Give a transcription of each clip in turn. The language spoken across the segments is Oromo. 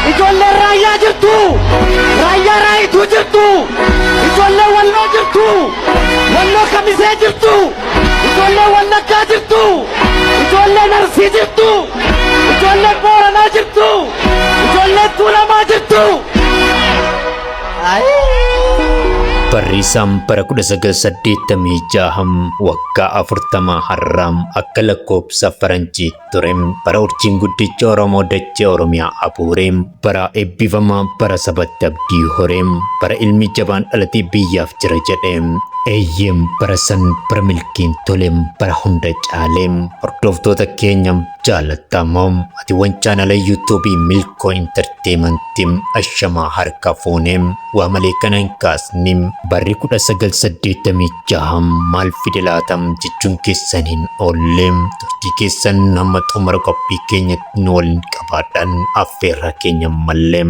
Ijoolleen raayyaa jirtu! Raayyaa raayituu jirtu! Ijoolleen walloo jirtu! Walloo kamisee jirtu! Ijoolleen wallaggaa jirtu! Ijoolleen arsii jirtu! Ijoolleen booranaa jirtu! Ijoolleen tuulamaa jirtu! Barriisaan bara 1986 waggaa 40 har'aam akka lakkoobsa faranjiitti ture bara urjiin guddichi oromoo dachee oromiyaa abuure bara eebbifamaa bara sabatti abdii hore bara ilmi jabaan dhalatee biyyaaf jira jedhe eeyyee bara san bara milkiin tole bara hunda caale hordoftoota keenya jaalattamoo atiiwwan chaanala yuutuubii milkoo intarteemantii ashamaa harka fuune Waa malee kana hin kaasne. Barri 1986 maal fide laata jechuun keessan hin oolle. Turtii keessan hamma xumura qophii keenyatti nu waliin qabaadhaan affeerraa keenya ammallee.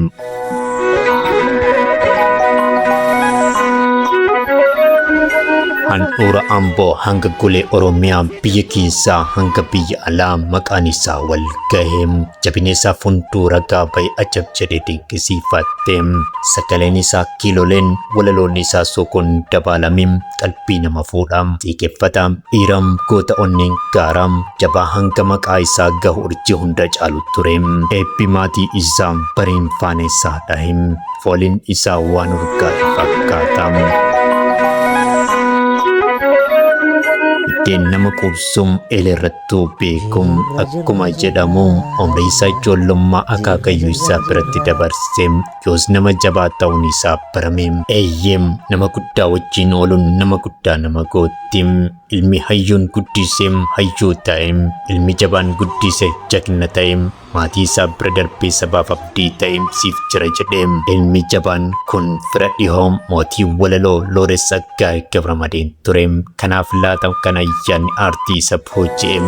handhuura amboo hanga golee oromiyaa biyya keessaa hanga biyya alaa maqaan isaa wal gahe jabineessaaf hunduu ragaa ba'e ajab jedheti Kisiifattee. Sagaleen isaa kiiloleen walaloonni isaa sookoon dabaalame qalbii nama fuudha. Xiiqeffata, dhiira, goota onneen gaara, jabaa hanga maqaa isaa gahu urjii hunda caalu ture. Eebbi maatii isaa bariin faana isaa dhahe. Fooliin isaa waan urgaa'e fakkaata. Biddeen nama quubsu eeleerratti Tuubeekum akkuma jedhamu umrii isaa ijoollummaa akaakayyuu isaa biratti dabarse yoos nama jabaa ta'uun isaa barame eeyyeem nama guddaa wajjiin ooluun nama guddaa nama gootti ilmi hayyuun guddise hayyuu ta'e ilmi jabaan guddise jagna ta'e Maatii isaa bira darbee sabaaf abdii ta'e siif jira jedhe. Ilmi jabaan kun fira dhihoo mootii walaloo Looreet Tsaggaayee Gabramadeen ture. Kanaaf laata kan ayyaanni aartii isa booji'e.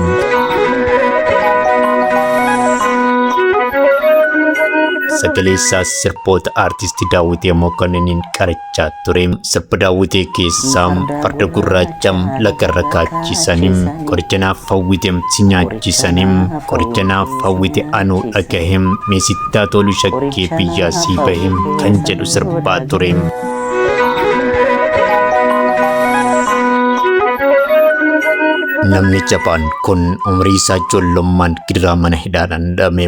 Sagalee isaas sirboota aartisti Daawwitee Mokonniiniin qarachuun jechaa ture. Sirba daawwitee keessaa farda gurraacha lagarra kaachisanii qoricha naaf hawwite si nyaachisanii qoricha naaf hawwite anuu dhagahe mee sittaa tolu shakkee biyyaa sii bahe kan jedhu sirbaa ture. Namni jabaan kun umrii isaa ijoollummaan gidiraa mana hidhaadhaan dhabame.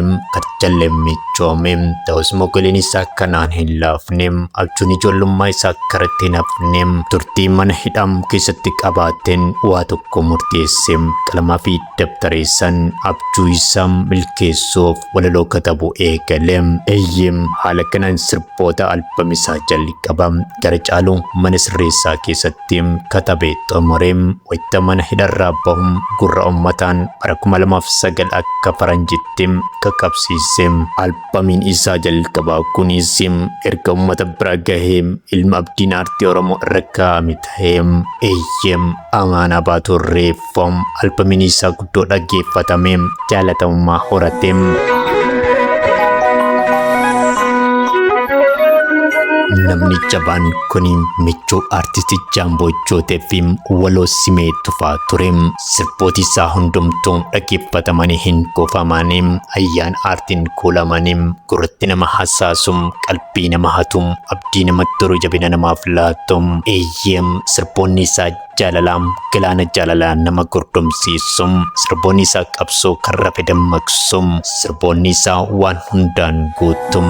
Jalleen michoome ta'us mogoleen isaa kanaan hin laafne abjuun ijoollummaa isaa karatti hin hafne turtii mana hidhaa keessatti qabaateen waa tokko murteesse qalamaa fi dabtareessan abjuu isaa milkeessuuf walaloo katabu eegale eeyyee haala kanaan sirboota albamisaa jalqaba gara caaluu mana sirreessaa keessatti irratti katabe xumure wayita mana hidharraa bahu gurra ummataan bara 2009 akka faranjitti qaqabsiise. Albamiin isaa jalqabaa kunis erga ummata bira gahee ilma abdiin aartii Oromoo irra kaa'ame tahe. Eeyyee, Amaanaa Baatuu Irreef. Foom albamiin isaa guddoo dhaggeeffatame jaalatamummaa horate. Namni jabaan kun michuu artisti Jaamboo Jootee fi waloo simee tufaa ture. Sirbooti isaa hundumtuu dhaggeeffatamanii hin kuufamani. Ayyaan aartiin kuulamani. Gurratti nama hasaasu, qalbii nama hatu, abdii nama turu jabina namaaf laatu. Eeyyee sirboonni isaa Jaalalaam galaana jaalala nama gordomsiisu sirboonni isaa qabsoo kan rafe dammaqsu sirboonni isaa waan hundaan guutu.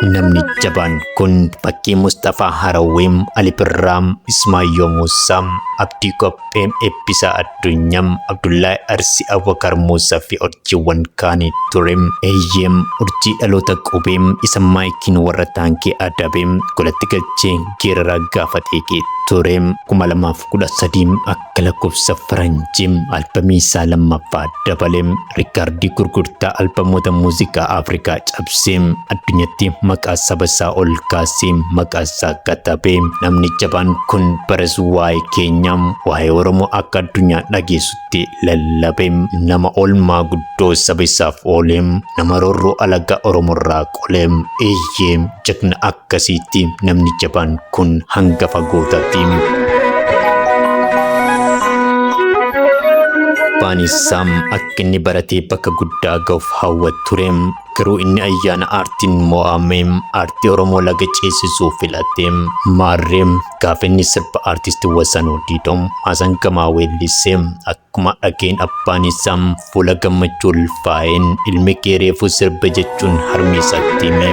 Namni jabaan kun fakkii Mustafaa Harawweem, Ali Birraam, Ismaayyoo Muusaa, Abdii Qophee, Eebbisaa Dunyam Abdullahi Arsi Abubakar Muusa fi urjiiwwan kaani ture. Eeyyeem urjii dhaloota qubee isa maayikiin warra taankii adabe golatti galchee geeraraa gaafatee kee ture. 2013 akka lakkoofsa faranjii albamii isaa lammaffaa dabale. Riikaardii gurgurtaa albamoota muuziqaa Afrikaa cabsee addunyatti maqaa saba isaa ol kaasee maqaa isaa katabe. Namni jabaan kun baras waa'ee keenya waa'ee Oromoo akka addunyaa dhageessutti lallabe. Nama oolmaa guddoo saba isaaf oole. Nama roorroo alagaa Oromoorraa Qoleem eeyyee jagna akkasiitti namni jabaan kun hangafa gootaatti. abbaan isaa akka inni baratee bakka guddaa ga'uuf hawwa ture garuu inni ayyaana aartiin mo'ame aartii oromoo laga ceesisuu filate maarree gaafa inni sirba aartisti wasanuu diidoo maasan gamaa weellisee akkuma dhageen abbaan isaa Fuula gammachuu ulfaa'een ilmi kee reefuu sirba jechuun harmee isaatti hime.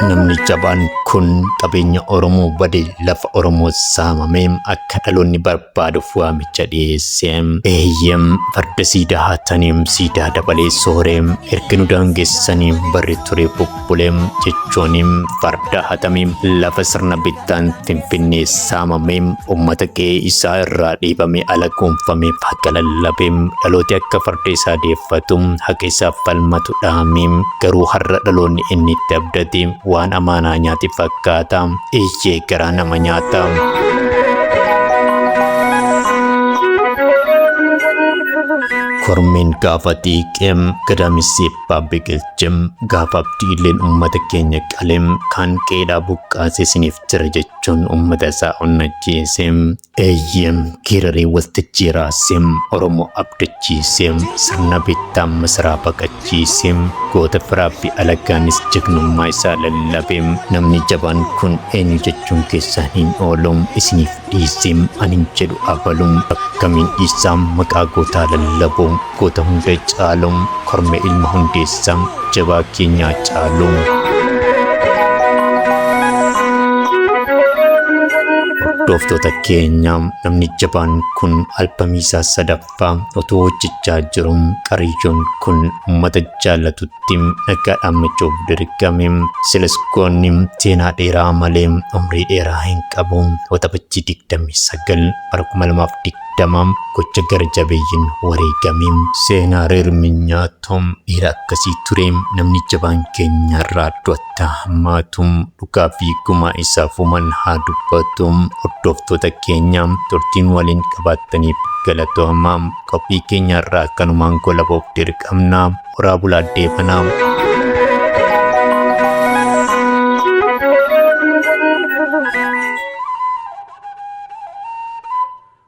Namni jabaan kun qabeenya Oromoo bade lafa Oromoo saamamee akka dhaloonni barbaaduuf waamicha dhiyeesse. Eeyyem farda siidaa haataniim siidaa dabalee sooreem erga nu daangessanii barri ture buqqee. Bulee jechooni farda hatame lafa sirna bittaan Finfinnee saamame uummata qe'ee isaa irraa dhiibame ala kuunfame haqa lallabe dhalooti akka farda isaa deeffatu haqa isaaf falmatu dhaame garuu har'a dhaloonni inni itti abdate waan amaanaa nyaate fakkaata eeyyee garaa nama nyaata. kormeen gaafa xiiqeem gadaamisiif abbaa biqilchem gaafa abdiilleen ummata keenya qalem kaan qeedhaa buqqaase isiniif jira jechuun ummata isaa onnachiise eeyyem geeraree waltajjii raase oromoo abdachiise sirna bittaa masaraa baqachiise goota firaabbi alagaanis jagnummaa isaa lallabe namni jabaan kun eenyu jechuun keessaan hin oolu isiniif Dhiissim anin jedhu abalu akkamiin dhiisa maqaa gootaa lallabu goota hunda caalu kormee ilma hundeessa jabaa keenya Haacaaluu. Hordoftoota keenya namni jabaan kun albamii isaa sadaffaa Fa otoo hojjechaa jiru qariyyoon kun uummata jaallatutti nagaa dhaammachuuf dirqame. Silas goonni seenaa dheeraa malee umrii dheeraa hin qabu. Waxabajjii 29 bara 2020 gocha gara jabeeyyiin wareegame. Seenaa Reermi nyaatu dhiira akkasii ture namni jabaan keenya irraa du'a. itti haa hammaatu. Dhugaa fi gumaa isaa fuman haa dubbatu. Hordoftoota keenya turtiin waliin qabaattaniif galatoomaa. Qophii keenya irraa kanumaan golabuuf dirqamna. Horaa bulaa deebanaa.